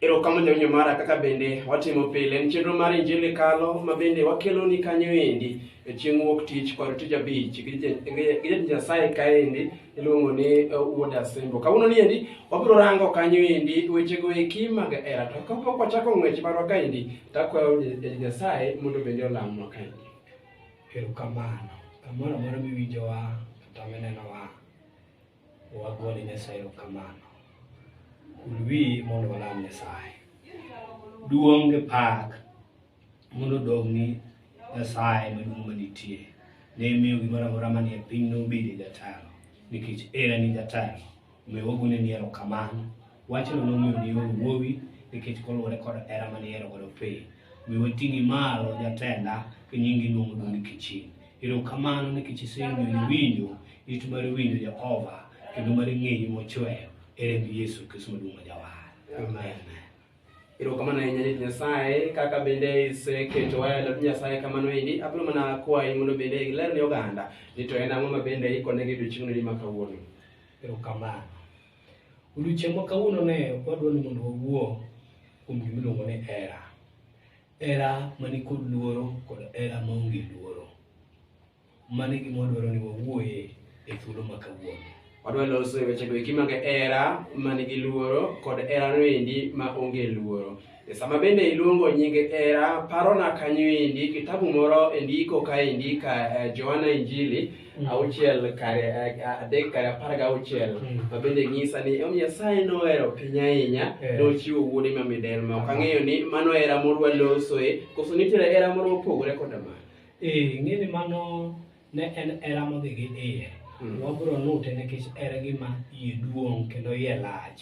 Erokamano jawinjo mara kaka bende watimo pile en chenro mar injili kalo ma bende wakeloni kanyo endi e chieng' wuok tich kod tich abich gi ja- gi ja- gi jatich nyasaye kaendi iluongo ni eh, wuod asembo kawuono ni endi wabiro rango kanyo endi wechego eki mag hera to kapok wachako ng'wech marwa kaendi takwayo ja- jatich nyasaye mondo bende olamnwa kaendi Erokamano. Kamoro amora miwinjowa kata minenowa, Wagone Nyasaye erokamano. Ulwi mondo walam Nyasaye. Duong' gi pak mondo odog ni Nyasaye maduong' manitie. Ne imiyo gimoro amora manie piny nobedi jatelo nikech en e jatelo. Omiyo wagone ni erokamano. Wachno nomiyo ni oro wuowi nikech koluwore kod hera mane ihero godo piny. Omiyo wating'i malo jatenda, ka nyingi iluongo duong' ni kiching'. Erokamano nikech isemiyo winjo it mar winjo Jehova kendo mar ng'eyo mochweyo e remb Yesu Kristo maduong' ma jawar. Amen. Erokamano ahinya Jatich Nyasaye kaka bende iseketo waya e lwet Nyasaye kamano endi. Abiro mana kwayi mondo bende iler ne oganda ni to en ang'o ma bende ikonegi odiechieng'no ni ma kawuono. Erokamano. Odiechieng' ma kawuono ne wadwa ni mondo wawuo kuom gima iluongo ni hera. Hera mani kod luoro kod hera maonge luoro. Mano e gima wadwaro ni wawuoye e thuolo ma kawuono. Wadwa loso e wechego eki mag hera man gi luoro kod hera noendi ma onge luoro. E sama bende iluongo nying hera, parona kanyo endi kitabu moro e ndiko kaendi ka eh, Johana Injili Mm. auchiel kare eh, adek kare apar gi auchiel mm. ma bende nyisa ni omiyo nyasaye nohero piny ahinya eh. nochiwo wuode ma midel ma ok ang'eyo ni mano era moro walosoe koso nitiere era moro mopogore koda mano ee eh, ng'e ni mano ne en era modhi gi iye mm. wabro nute nikech era gima iye duong' kendo iye lach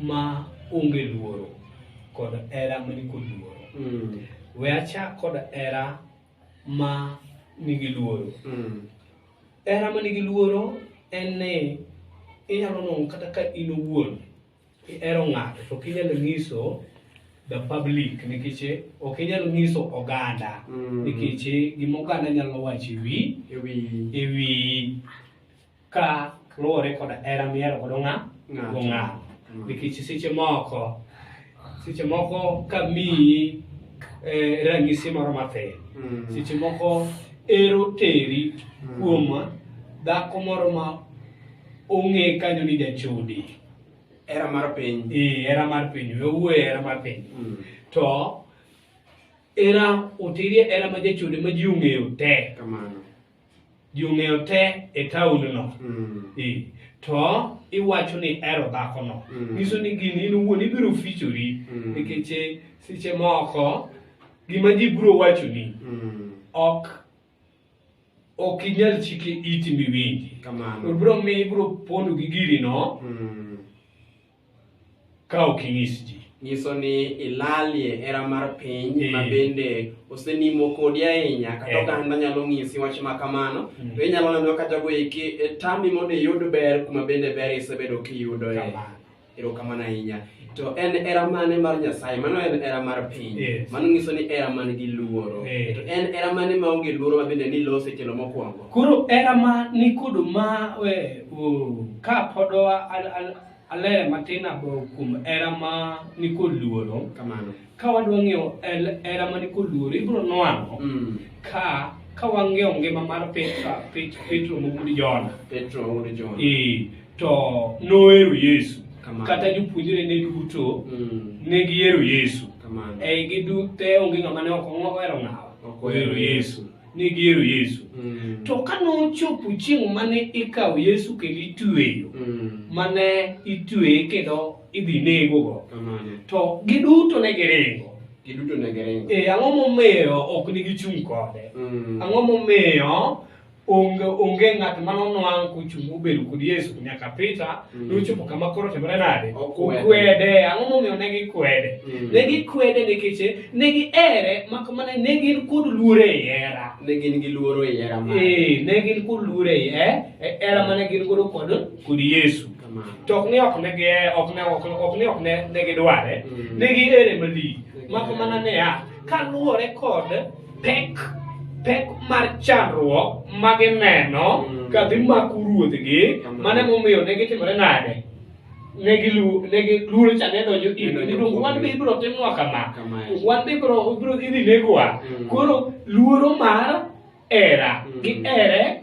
ma onge luoro kod hera ma nikod luoro mm. we achak kod hera ma nigi luoro mm. hera ma nigi luoro en ni inyalo nongo kata ka in owuon ihero ng'ato to ok inyal ng'iso the public nikech ok inyal ng'iso oganda mm. nikech gima oganda nyalo wacho ewi ewi ka luwore koda hera mihero godo ng'a Ng'ato. go ng'a Mm. nikech seche moko seche moko ka miyi eh, ranyisi moro mathin Mm. seche moko ero teri Mm. kuom dhako moro ma ong'e kanyo ni jachode Era mar piny. Eh, hera mar piny owuoye hera mar piny Mm. to era oterie hera ma jachode ma ji ong'eyo te Kamano. ji ong'eyo te e taondno Mm. Eh, to iwacho ni ero dhakono Mm. nyiso ni gini in iwuon ibiro fichori Mm. nikech eh, seche moko gima ji biro wachoni Mm. ok ok inyal chike iti miwinji Kamano. biro miyo ibiro pondo gi girino Mm. ka ok inyis ji nyiso ni ilalie hera mar piny eh. ma bende osenimo kodi ahinya kata eh. oganda nyalo ng'isi wach ma kamano mm. to inyalo neno ka jago eki e, tami mondo iyud ber kuma bende ber isebedo kiyudo e erokamano ahinya to en era mane mar nyasaye mano en era mar piny mano nyiso ni era man gi luoro eh. to en era mane ma onge luoro ma bende ni lose kelo mokwongo koro era ma nikod ma we ka podowa aler matin abo kuom era ma nikod luoro kamano ka wadwa ng'eyo el- era ma nikod luoro ibiro nwang'o mm. ka ka wang'eyo ngima mar petro Pet- petro mogudi jona petro wuod john e to nohero yesu Kamano. kata jopuonjre ne duto mm. ne gihero yesu kamano e gidute onge ng'ama ne ok ohero ng'awa Ok ohero ohero yesu ne gihero Yesu. Mm. To ka nochopo chieng' mane ikawo Yesu kendo itweyo, Mm. mane itweye kendo idhi negogo, Kamano. to giduto ne giringo. Giduto ne giringo. E, ang'o momiyo ok ne gichung' kode? Mm. Ang'o momiyo onge onge ng'at mane onwang' kochung' obedo kod Yesu nyaka Peter Mm. Nochopo kama koro otimore nade? Okwede. Okwede. Ang'o momiyo ne gikwede? Mm. Ne gikwede nikech ne gihere mak mana ne gin kod luoro e hera. Ne gin gi luoro e hera mare. Ee, ne gin kod luoro e eh, e hera mane gin godo kod kod Yesu. Kamano. To ok ne ok ne gi ok ne ok ok ne ok ne ne gidware. Mm. Ne gihere malich. Mak mana ne ya kaluwore kod pek pek mar chandruok ma gineno mm. ka dhi mako ruodhgi mm. mane momiyo ne gitimore nade ne giluoro cha ne donjo irniluongo wan be ibiro timnwa kama wan be ibiro idhi negwa mm. koro luoro mar era gi ere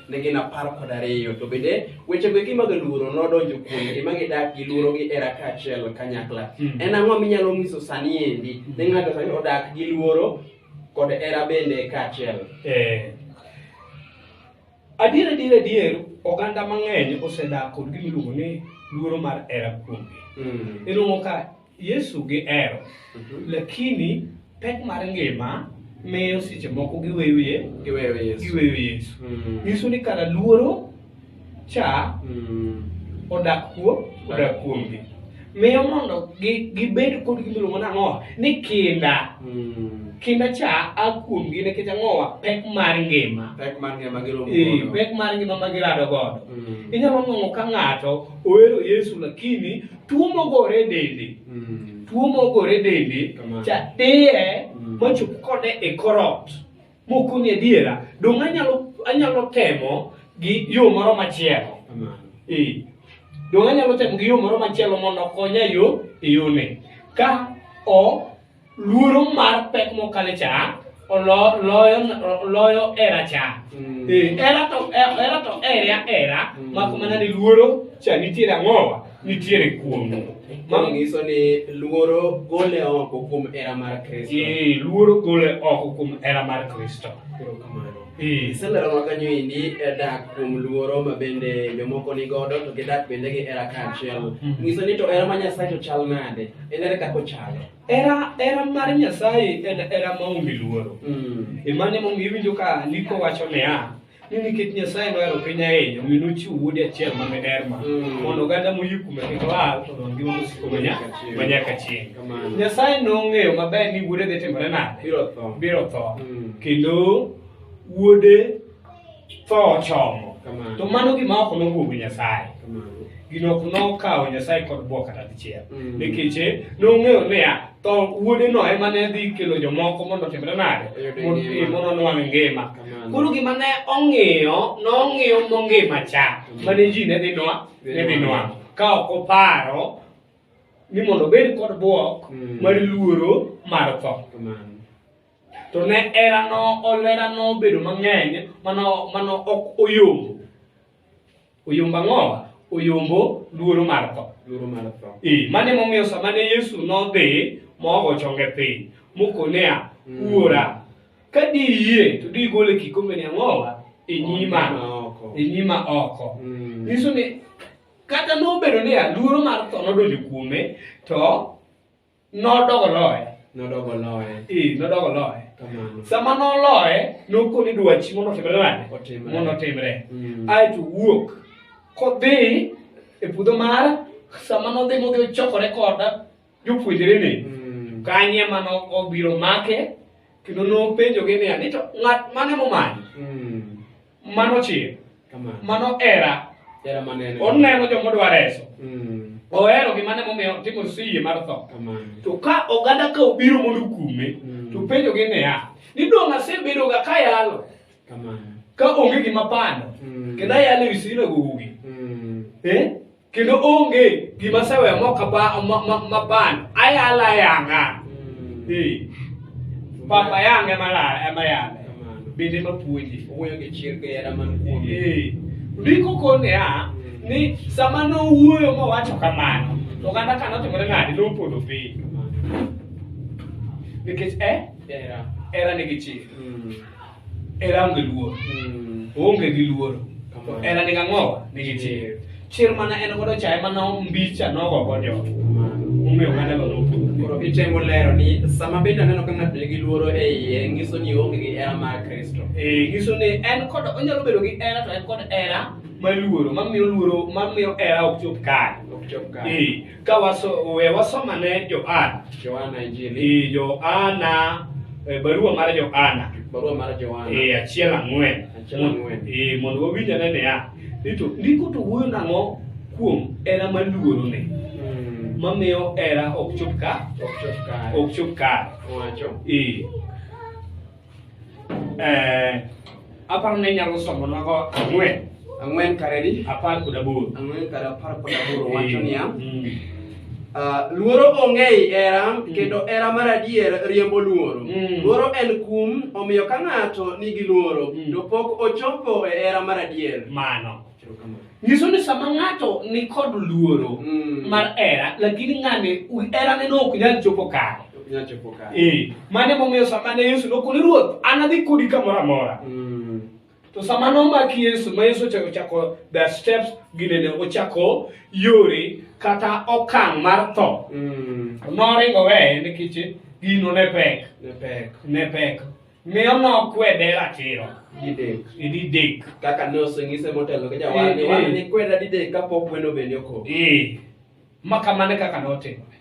ne gin apar kod ariyo to bende wechego eki mag luoro nodonjo kuomgi ma gidak gi luorogi era kaachiel kanyakla hmm. en ang'o minyalo nyiso sani endi ne ng'ato sani odak gi luoro kod era bende kaachiel eh. adier adier adier oganda mang'eny osedak kod gimiluongo ni luoro mar era kuomgi hmm. iluongo ka Yesu gihero mhm. lakini pek mar ngima miyo seche moko giweyo ye giweyo Yesu giweyo Yesu mm. nyiso ni kara luoro cha mm. odak kuom odak kuomgi miyo mondo gibed kod gimiluongo nang'owa ni kinda mm. kinda cha a kuomgi nikech ang'owa pek mar ngima pek mar ngima giromo eh, pek mar ngima ma girado godo mm. inyalo ng'ong'o ka ng'ato ohero Yesu lakini tuo mogore e dende mm. tuo mogore e dende cha diye mm. mochop kode e korot mokoni adiera dong' anyalo anyalo temo gi yo moro machielo ee dong' anyalo temo gi yo moro machielo mondo okonya yo e yone ka o luoro mar pek mokale cha loyo era cha mm. eh, era to eh, era to era era mm. mak mana ni luoro cha nitiere ang'owa nitiere kuom Mano nyiso ni luoro gole oko kuom era mar Kristo. Ee, luoro gole oko kuom era mar Kristo. Iselero ma kanyo endi eh, dak kuom luoro ma bende jomoko ni godo to gidak bende gi hera kaachiel. Hmm. Nyiso ni to hera ma Nyasaye to chal nade? En ere kaka ochalo? Hera hera mar Nyasaye en hera ma onge luoro. Hmm. E mane momiyo iwinjo ka ndiko wacho niya, ni nikech Nyasaye nohero piny ahinya omiyo nochiwo wuode achiel ma miderma hmm. mondo oganda moyie kuome kik lal to ngima mosiko ma nyaka chieng'. Nyasaye nong'eyo maber ni wuode dhi timore nade? Biro tho. Mm. Kendo wuode tho ochomo. To mano gima ok nobwogo Nyasaye. Gino ok nokawo Nyasaye kod bwok kata dichiel. Mm. Nikech eh, nong'eyo niya, to wuode no ema ne dhi kelo jomoko mondo otimre nade? Mondo onwang' ngima. Koro gima ne ong'iyo, nong'iyo mongima cha. Mm. Mane ji ne dhi nwa, ne dhi nwa. Ka ok oparo ni mondo obed kod bwok mm. mar luoro mar tho to ne erano olera nobedo mang'eny mano mano ok oyombo oyombo ang'o oyombo luoro mar tho luoro mar tho ee mane momiyo sama ne yesu nodhi mogo chonge piny mokonea mm. wuora ka diyie to digole kikombeni ang'owa e nyima e nyima oko mm. nyiso ni Kata nobedo ni aluoro mar tho nodonjo kuome, to nodogo loye. Nodogo loye. Ee, nodogo loye. Kamano. Sama noloye, nokoni dwachi mondo otimre nade? Otimre. Mondo otimre. Mm. Ae to wuok kodhi e puodho mar sama nodhi modhi ochokore koda jopuonjrene. Mm. Kanye ma no- obiro make kendo nopenjogi niya, ni to ng'at mane momanyo? Mm. Mano chir. Kamano. Mano era. Era manene. Oneno joma odwa reso. Mm. Ohero gima ne momiyo timo siye mar tho. Kamano. To ka oganda ka obiro mondo okume, Mm. to penjogi niya, ni dong' asebedoga ka yalo Kamano. ka onge gima pando Mm. kendo ayalo e wi sinagogi. Mm. Eh? kendo onge gima aseweyo mok apa- ma- ma- mapando ayala yanga Eh, papa yanga ema la- ema yala bende ema puonje Owuoyo gi chir gi hera man kuome. Eh, ndiko kone ya ni sama nowuoyo mowacho kamano to oganda ka notimore nade nopodho piny nikech eh Hera. era nigi chir Mm. Hera onge luoro. Mm. Oonge gi luoro. To Kamano. hera nigi ang'owa? Nigi chir. Chir mana en godo cha ema nombicha nogo go jogo. Kamano. Omiyo oganda go nopodho. Koro itemo lero ni sama bende aneno ka ng'ato nigi luoro e iye, nyiso ni oonge gi hera mar Kristo. Eh, nyiso ni en kod onyalo bedo gi hera to en kod hera maluoro, mamiyo luoro, mamiyo hera ok chop kare. Ok chop kare. Eh, Ka waso, we wasomane Johana. Johana Injili, Ee, Johana, e, barua mar Johana. barua mar Johana. Ee, achiel ang'wen. Achiel Mon- ang'wen. Ee, mondo wawinj ane niya, ni to ndiko to wuoyo nang'o kuom hera maluorone Mm, mamiyo hera ok chop ka ok chop kare. ok chop kare. Owacho. Ee, Eh, aparo ne nyalo somonago ang'wen ang'wen karedi apar kod aboro ang'wen kar apar kod aboro wacho niya Mm. ah, luoro onge ei era kendo era mar adier riembo luoro Mm. luoro en kum omiyo ka ng'ato nigi luoro Mm. to pok ochopo e era mar adier mano nyiso ni sama ng'ato ni kod luoro mm. mar era lakini ng'ane erane no ok nyal chopo kare eh, mane momiyo sama ne yesu nokoni ruoth an adhi kodi kamoro amora mm. to sama nomaki yesu ma yesu ochako chako the steps ginene ochako yore kata okang' mar tho mm. noringo weye nikech gino ne pek ne pek Miyo nok kwede ratiro. Didek. Didek. Kaka ne oseng'ise motelo gi jawadni, Eh, eh. wadni kweda didek kapok wendo bende okok. Eh. Ma kamano e kaka notimore.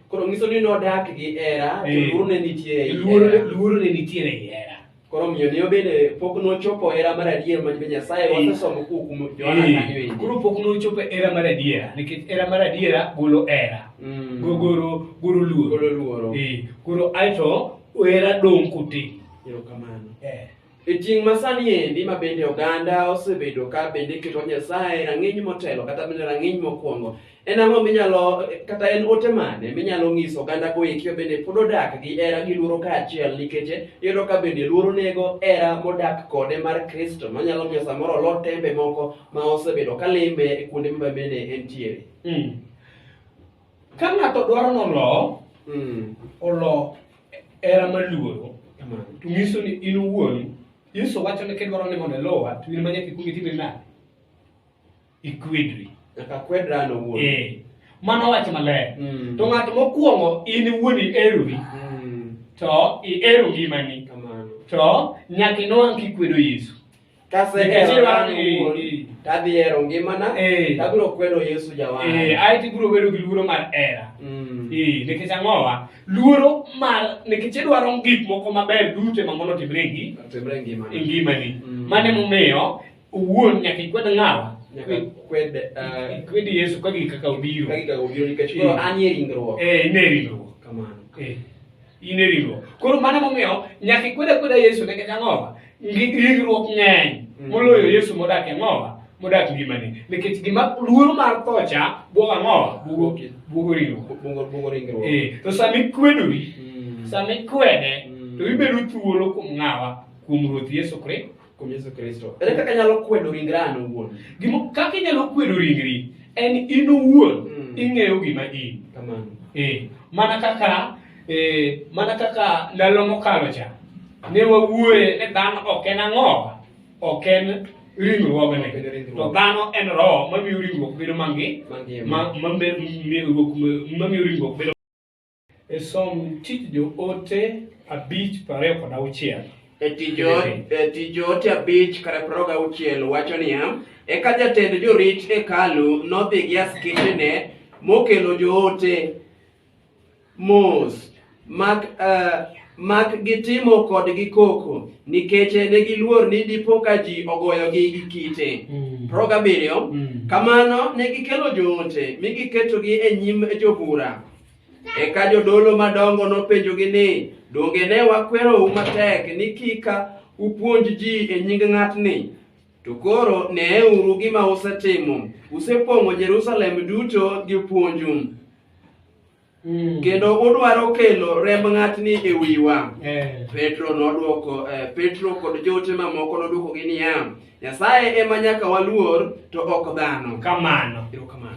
Koro ng'iso ni nodak gi hera, to Eh. luoro ne nitie ei Luoro hera. luoro ne nitiere ei hera. Koro omiyo ne obede pok nochopo hera mar adier ma Nyasaye Eh. wasesomo kuom kuom Johana Eh, kanyo endi. Koro pok nochopo e hera mar adiera nikech hera mar adiera golo hera. Mm. Go- Golo golo luoro. Golo luoro. Eh, Koro aeto Wera dong' kuti. Erokamano. Eh. E tieng' ma sani endi ma bende oganda osebedo ka bende keto Nyasaye rang'iny motelo kata bende rang'iny mokwongo. En ang'o minyalo kata en ote mane minyalo ng'iso oganda go eki bende pod odak gi era gi luoro kaachiel nikech iyudo ka bende luoro nego era modak kode mar Kristo manyalo miyo samoro olot tembe moko ma osebedo ka limbe kuonde ma bende entiere. Mm. Ka ng'ato dwaro ni olo, Mm. olo hera maluoro, Kamano. to nyiso ni in owuon, Yesu wacho ni kidwaro ni mondo iluwa, to in ma nyaka ikwong itime nade? Ikwedri. Nyaka kwedra an owuon. Eh, mano wach maler. Mm. To ng'at mokwongo in iwuon iherori, Mm. to ihero ngimani, Kamano. to nyaka inwang' kikwedo Yesu. Kasehero an owuon, tadhi hero ngimana, Eh. tabiro kwedo Yesu Eh, jawana. ae to ibiro bedo gi luoro mar hera Mm. Eh, nikech ang'owa luoro mar nikech idwaro gik moko maber duto ma mondo otimre gi Otimre e ngimana. ngimani Mm. mano emomiyo owuon nyaka ikwed ng'awa Nyaka kwed, eh, ikwed yesu ka gik kaka obiro ka gigago biro nikech Eh. koro an e ringruok. Eh, ine ringruok Kamano. Eh, in e ringruok koro mano emomiyo nyaka ikwed akweda yesu nikech ang'owa Ngi- ringruok ng'eny moloyo yesu modak e ng'owa modak ngimani nikech gima luoro mar tho cha bwogo ang'owa bwogo bwogo ringruok Bungo bungo ringruok. Eh, to sama ikwedori Mm. sama ikwede Mm. to ibedo thuolo kuom ng'awa kuom ruoth yesu kristo Kuom Yesu Kristo. Ere kaka anyalo kwedo ringra an owuon? Gimo kaka inyalo kwedo ringri en in owuon mm. ing'eyo gima in. Kamano. Eh, mana kaka eh, mana kaka ndalo mokalo cha ne wawuoye ni dhano ok en ang'owa, ok en ringruogne to dhano en roho mamiyo ringruok bedo mangi mamiyo ringruok bedo E som tich joote abich prariyo kod auchiel. E tich jo- e tich joote abich kare prariyo gauchiel wacho niya, Eka jatend jorit hekalu nodhi gi askechene mokelo joote mos mak eh, mak gitimo kodgi koko nikech ne giluor ni dipo ka ji ogoyogi gi kite. Mm. Prariyo gabiriyo, Mm. Kamano ne gikelo joote mi giketogi e nyim jobura Eka jodolo madongo nopenjogi ni, Donge ne wakwerou matek ni kik upuonj ji e nying ng'atni? To koro neeuru gima usetimo, usepong'o Jerusalem duto gi puonju, Mm. kendo udwaro kelo remb ng'atni e wiwa. Eh. Petro nodwoko eh, Petro kod joote mamoko nodwokogi niya, Nyasaye ema nyaka waluor to ok dhano. Kamano. Erokamano.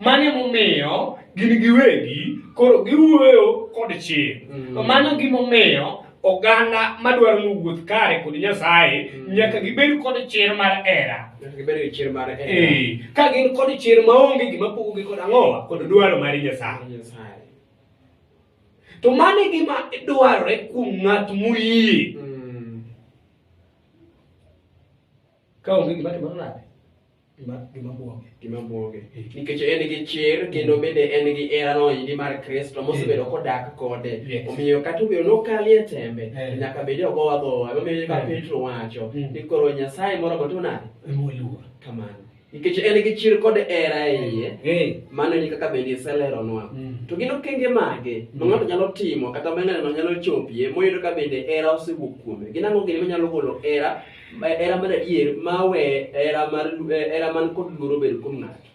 Mane momiyo gin giwegi koro giwuoyo kod chir. Mm. Mano gimomiyo oganda madwaro ni wuoth kare kod Nyasaye mm. nyaka gibed kod chir mar hera. Eh, ka gin kod chir maonge gima pogogi kod ang'owa kod dwaro mar Nyasaye. To mano e gima dwarore kuom ng'at moyie. Mm. Ka onge gima timore nade? Gima gima buoge. Gima buoge. Nikech en gi chir kendo bende en gi hera noyidi mar Kristo mosebedo kodak kode. Yes. Omiyo kata obedo nokali e tembe Eh. nyaka bed ogo agowa. Emomiyo ka Yes. Petro wacho Mm. ni koro Nyasaye moro moto nade? Emoluor. Kamano. Nikech en gi chir kod hera e iye. Eh. Mano e kaka bende iseleronwa. Mm. To gin okenge mage ma Mm. ng'ato nyalo timo kata ma ng'ato nyalo chopie moyudo ka bende hera osewuok kuome? Gin ang'o gini manyalo golo hera Hera mar adier ma we hera mar hera man kod luoro bed kuom ng'ato.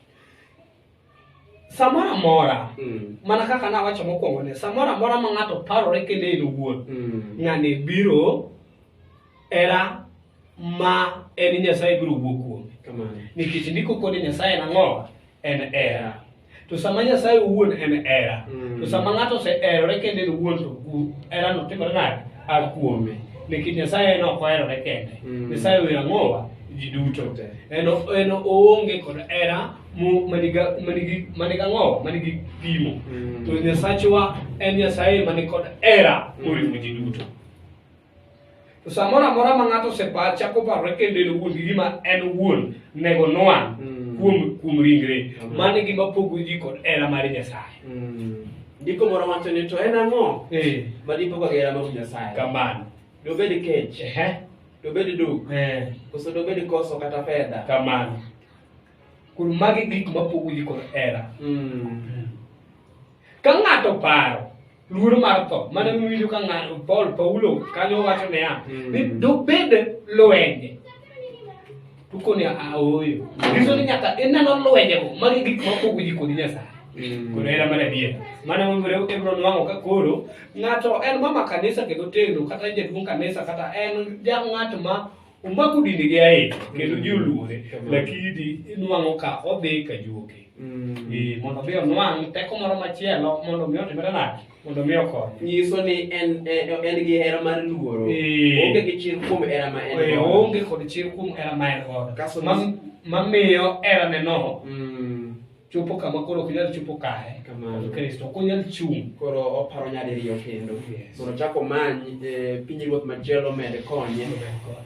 Samoro amora, Mm. mana kaka nawacho mokwongo ne, samoro amora ma ng'ato parore kende en owuon, Mm. ng'ani biro hera ma en Nyasaye biro wuok kuome. Kamano. Nikech ndiko kod Nyasaye en ang'o? En hera. to sama nyasaye owuon en hera Mm. to sama ng'ato oseherore kendo en owuon to gu- herano timore nade a kuome nikech nyasaye en ok oherore kende Mm. nyasaye oyo ang'owa ji duto Te. en o- en oonge kod hera mo- maniga- manigi manigi ang'owa manigi pimo Mm. to nyasachwa en nyasaye mani kod hera moriwo ji duto To samoro amora ma ng'ato osepa chako parore kendo en owuon gi gima en owuon nego onwang' Mm. kuom kuom ringre. Amen. Mano e gima pogo ji kod hera mar Nyasaye. Mm. Ndiko moro wacho ni to en ang'o Eh, ma dipogo gera mag Nyasaye? kamano. Dobed kech, Ehe. dobed duk, Eh, koso dobed koso kata fedha. kamano. Koro magi gik mapogo ji kod hera. Mm. Ka ng'ato paro luoro mar tho mana miwinjo ka ng'ato paul paulo kanyo wacho niya Mm. ni dobed lwenje to koni aoyo nyiso ni nyaka ineno lwenjego magi gik mapogo ji kodi nyasaye koro hera mar adier mane momre ibro nwang'o ka koro ng'ato en mama kanisa kendo tegno kata jaduong' kanisa kata en ja ng'at ma Omako dinde gi ahinya kendo ji oluore lakini di inwang'o ka odhi ka juoke. Eh, mondo mi onwang' teko moro machielo mondo mi otimre nade mondo mi okonye. nyiso ni en en en gi hera mar luoro Eh. onge gi chir kuom hera ma en Eh, godo. oonge kod chir kuom hera ma en godo Kaso- Ma- mamiyo heraneno Mm. chopo kama koro ok nyal chopo kare Kamano. to kristo ok onyal chung' koro oparo nyadiriyo kendo Yes. mondo ochak omany eh, pinyruoth machielo med konye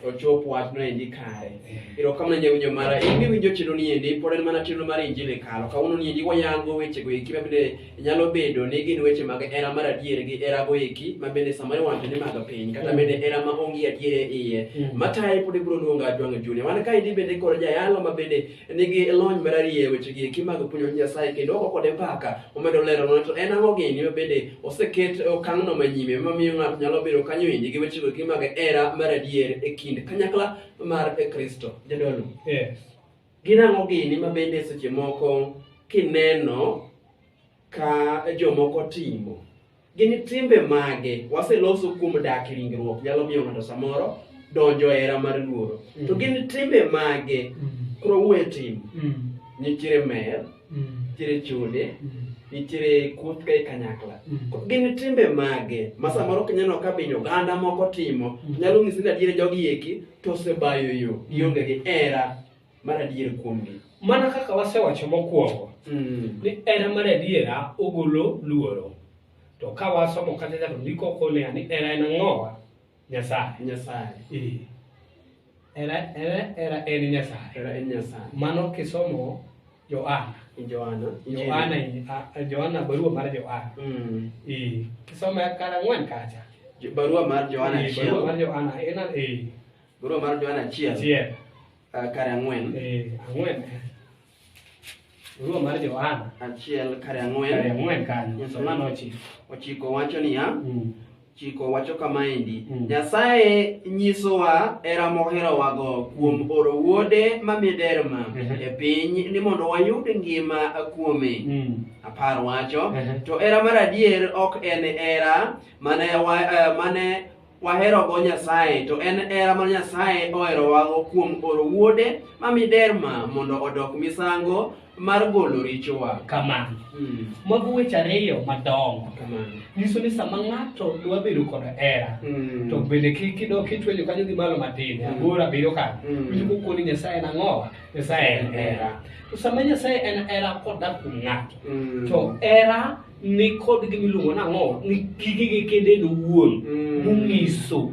ochop wachno endi kare Yeah. erokamano jawinjo mara in miwinjo chilo ni endi pod en mana chilo mar injili kalo kawuono ni endi wayango wechego eki ma bende nyalo bedo ni gin weche mag era mar adier gi erago eki ma bende samoro iwacho ni mag piny kata Mm. bende era ma onge adier e iye Mm. mataye pod ibiro luonga jwang' junia wan ka endi bende koro jayalo ma bende nigi lony mararieya e wechegi eki mag puonjo wach Nyasaye kendo ogo kode mbaka omedo lero mana to en ang'o gini ma bende oseket e okang'no manyime mamiyo ng'ato nyalo bedo kanyo endi gi wechego eki mag hera mar adier e kind kanyakla mar Kristo. Jadolo, Yes. gin ang'o gini ma bende seche moko kineno ka jomoko timo. Gin timbe mage waseloso kuom dak e ringruok nyalo miyo ng'ato samoro donjo e hera mar luoro. Mm. To gin timbe mage mm. koro wuoye timo. Mm. Nitiere mer, nitiere chode, nitiere kuoth ka e kanyakla. Gin timbe mage ma samoro kineno ka binyo oganda moko timo nyalo ng'isi ni adier jogi eki to osebayo yo gionge gi hera mar adier kuomgi. Mana kaka wasewacho mokwongo mm. ni hera mar adiera ogolo luoro to ka wasomo kata to ndiko konea ni hera en ang'owa nyasaye nyasaye eh. hera hera hera en nyasaye hera en nyasaye mano kisomo Yohana Yohana Yohana Yohana barua mar Yohana mm. eh kisomo kara ng'wen kacha barua mar Yohana eh, barua mar Yohana en eh barua mar Yohana chiel chiel Ah, kare ang'wen Eh, ang'wen. Barua mar Johana. achiel kare Kare ang'wen ang'wen kanyo. Yes, Johana ma'am. ochiko. ochiko wacho niya Mm. chiko wacho kamaendi Mm. nyasaye nyisowa era moherowago kuom oro wuode ma miderma Mhm. e piny ni mondo wayud ngima kuome Mm. apar wacho Mhm. to era mar adier ok en era mane, wa, eh, mane Waherogo Nyasaye, to en hera ma Nyasaye oherowago kuom oro Wuode ma miderma mondo odok misango mar golo richowa. Kamano. Mm. Mago weche ariyo madongo. Kamano. Nyiso ni sama ng'ato dwa bedo kod hera, mm. to bende kik idok itwenyo kanyo gi malo matin, mm. aboro abiriyo kanyo. Mm. Winjo kokoni e Nyasaye en ang'owa, Nyasaye en hera. To sama Nyasaye en hera kodak kuom ng'ato, mm. to hera ni kod gima iluongo nang'o ni gigi gi kende en owuon Mm. monyiso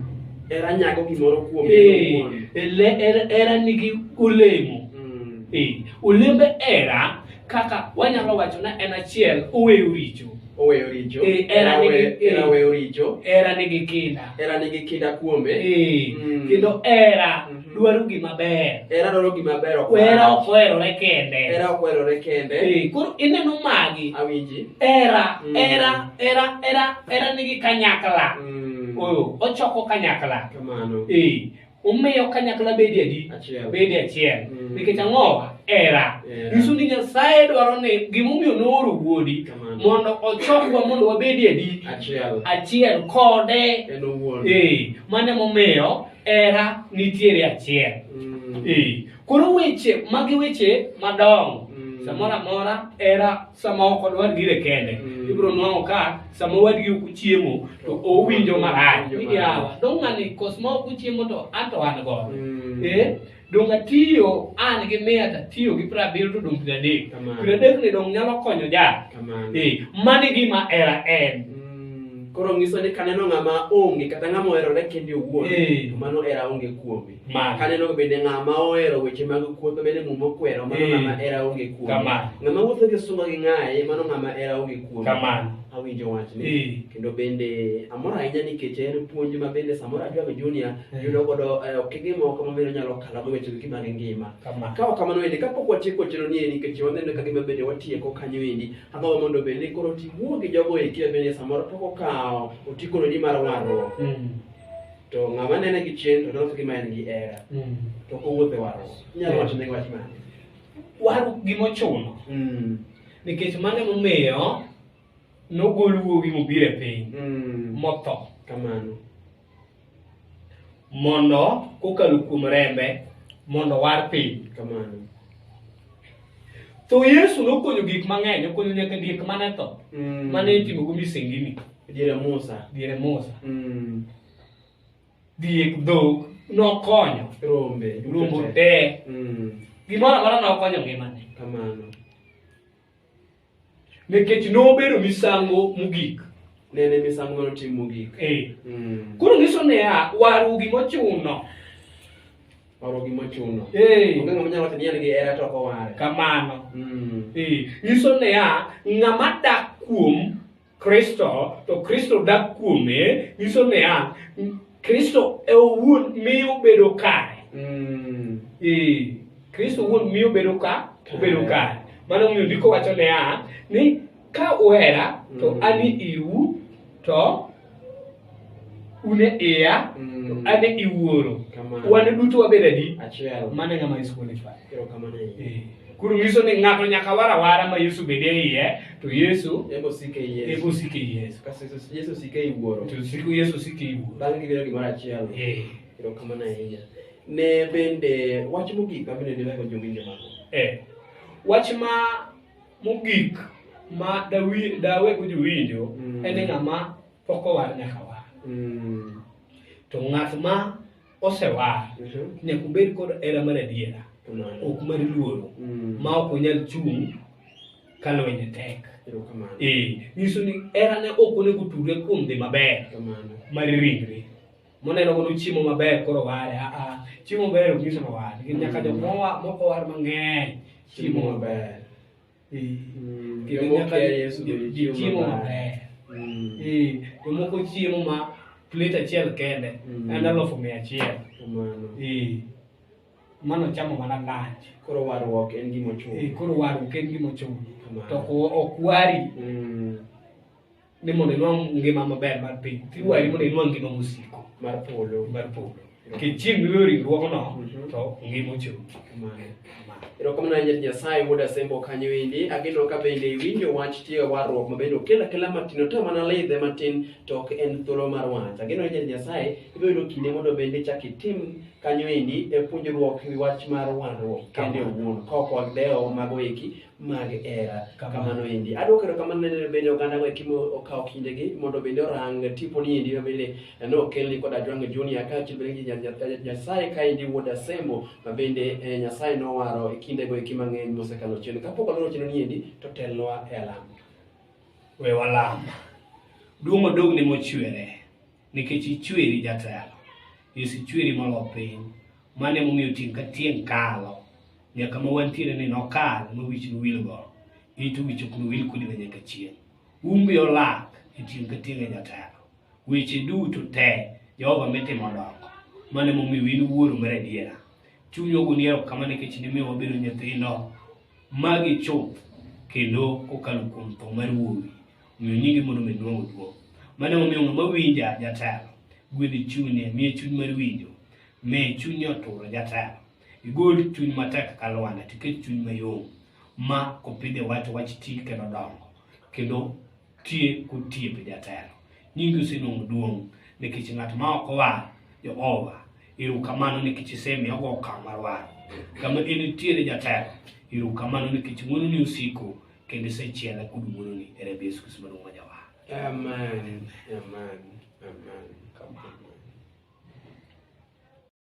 Era nyago gimoro kuom Eh, owuon. ele- era- era nigi olemo Mm. Eh, olembe era kaka wanyalo wacho na en achiel oweyo richo Oweyo richo. Eh, era Era nigi- we- era eh. weyo richo. era nigi kinda Era nigi kinda kuome. Eh, Mm. kendo era dwaro gima ber hera dwaro gima ber ok hera ok oherore kende hera ok oherore kende eh, koro ineno magi awinji hera mm. hera hera hera hera nigi kanyakla mm. oyo ochoko kanyakla kamano eh omiyo kanyakla bedi adi bedi achiel mm. nikech ang'o era nyiso ni nyasaye dwaro ni gimomiyo nooro wuodi mondo ochokwa mondo wabedi adi achiel kode eh, mane momiyo Hera nitiere achiel. Mm. Eh, Koro weche magi weche madongo. Mm. Samoro amora hera sama ok odwar gire kende. Mm. Ibiro nwang'o ka sama wadgi ok uchiemo to owinjo marach. Owinjo Ni yawa, marach. dong' ng'ani kos ma ok uchiemo to an to an godo. Mm. Eh, dong atiyo an gi mia to atiyo gi piero abiriyo to dong piero adek Kamano. piero adek ni dong nyalo konyo jal Kamano. Eh, mano e gima era en Mm, Koro nyiso ni kaneno ng'ama onge kata ng'ama oherore kende owuon Eh. to mano era onge kuome. Mano. Kaneno bende ng'ama ohero weche mag kuotho bende muma okwero mano Eh. ng'ama era onge kuome. Kamano. Ng'ama wuotho gi sunga gi ng'aye mano ng'ama era onge kuome. kamano awinjo wachni Eh. kendo bende amor ahinya nikech en puonj ma bende samoro adwago junior Eh. yudo godo eh, okenge moko mabiro nyalo kalogo weche gi mag ngima Kama. kawa kamano endi kapok watieko chero ni endi nikech waneno ka gima bende watieko kanyo endi agombo mondo bende koro tiwuo gi jogo eki ma bende samoro pok okawo otikononi mar warruok Mm. to ng'ama nene gi chien to dok gima en gi era Mm. to kowuothe warruok inyalo Yes. wacho ne wach mane waru gimochuno Mm. nikech mano emomiyo nogol wuowi mobiro e piny Mm. motho Kamano. mondo kokalo kuom rembe mondo war piny Kamano. tho yesu nokonyo gik mang'eny okonyo nyaka diek mane tho Mm. mane itimogo misengini Diere Musa. diere musa Mm. diek dhok nokonyo rombe rombo te mm. gimoro amora nokonyo ngimane kamano nikech nobedo misango mogik nene misango mano tim mogik eh. mm. koro nyiso niya waru gimochuno oro gimochuno eh. onge ng'ama nyalo wacho ni en gi hera to koware kamano mm. eh. nyiso niya ng'ama dak kuom Kristo to Kristo dak kuome nyiso niya Kristo e owuon miyo bedo kare mm. ee Kristo owuon miyo bedo ka obedo kare mano miyo ndiko wacho niya ni ka uhera to mm. ani iu to une iya Mm. ane iwuoro Kamano. wan duto wabedo adi Achiel. mano e ng'ama yesu qualify Kiro kamano e Eh, koro nyiso ni ng'ato nyaka war awara ma yesu bede e iye to yesu Yego sike Yesu. eko sike yesu Kasi Yesu- Yesu sike iwuoro. to siko yesu sike iwuoro Bang' gibedo gimoro achiel. Eh, Kiro kamano ahinya. Ne bende wach mogik ma bende dilego jowinjo mago. eh. wach ma mogik ma dawi- dawego jowinjo Mm. en ng'ama pok owar nyaka war Mm. to ng'at ma osewar Mhm. nyaka obed kod hera mar adiera Kamano. ok mar luoro Mm. ma ok onyal chung' ka lwenye tek Erokamano. ee nyiso ni herane ok onego otudre kuom dhi maber Kamano. mar ringre moneno godo chiemo maber koro ware aa chiemo maber ok nyiso ni ware Nikech nyaka jok mowa- moko war mang'eny chiemo maber Eh, Mm, kendo jomoko nyaka kia Yesu jo- bende jo- chiemo chiemo maber. maber. Mm, Eh, jomoko chiemo ma plate achiel kende Mm. en alufu mia achiel kamano. Eh, mano chamo mana lunch Koro warruok en gima Eh, ochuno. koro waru ken gima ochuno Kamano. to ok- ok wari Mm, ni mondo inwang' ngima maber mar piny iwari mondo inwang' ngima mosiko mar polo mar polo nikech chieng' miweyo ringruogno Mhm. to ngima ochung' Kamano. Kamano. erokamano ahinya nyasaye wuod asembo kanyo endi ageno ka bende iwinjo wach tiyo warruok ma bende okel akela matin oto mana lidhe matin to ok en thuolo mar wach ageno ahinya nyasaye ibiro yudo kinde mondo bende ichak itim kanyo endi e puonjruok wi wach mar warruok kende Kamano. owuon kaok wadewo mago eki mag hera kamano endi adwoko erokamano ne bende oganda go ekimo okawo kindegi mondo bende orang tiponi endi ma bende ne okelni kod ajwang junior kaachiel bende gi nya- nya- nyasaye kaendi wuod asemo ma bende eh, nyasaye nowaro e kindego eki mang'eny mosekalo chien kapok waloro chino ni endi to telnwa e alama we walam duong' odog ne mochwere Nikech ichweri jatelo, Yesu ichweri molo piny, mano emomiyo tieng' ka tieng' kalo nyaka ma wantiere ni nokal ma wich nowil go ito wich ok nowil kodi ma nyaka chieng' umbe olak e tieng' ka tieng' e jatelo weche duto te jehova mitimo dongo mano emomiyo in wuoro mar adiera chuny ogoni erokamano nikech nimiyo wabedo nyithindo magi chuth kendo kokalo kuom tho mar wuowi Miyo nyingi mondo omed duong' duong'. Mano emomiyo ng'ama winja jatelo, gwedh chunye, miye chuny mar winjo, miye chunye oturo jatelo. Igol chuny matek ka lwanda, tiket chuny mayom, ma kopidhe wach wach ti kendo dongo, kendo tie kotiepe jatelo. Nyingi osenwang'o duong' nikech ng'at ma ok owar Jehova, erokamano nikech isemiyo ogo okang' mar waro. Kama en nitiere jatelo, erokamano nikech ng'wononi osiko kendo isechiela kod wuoroni e remb Yesu Kristo maduong' ma jawar. Amen. Amen. Amen. Come on.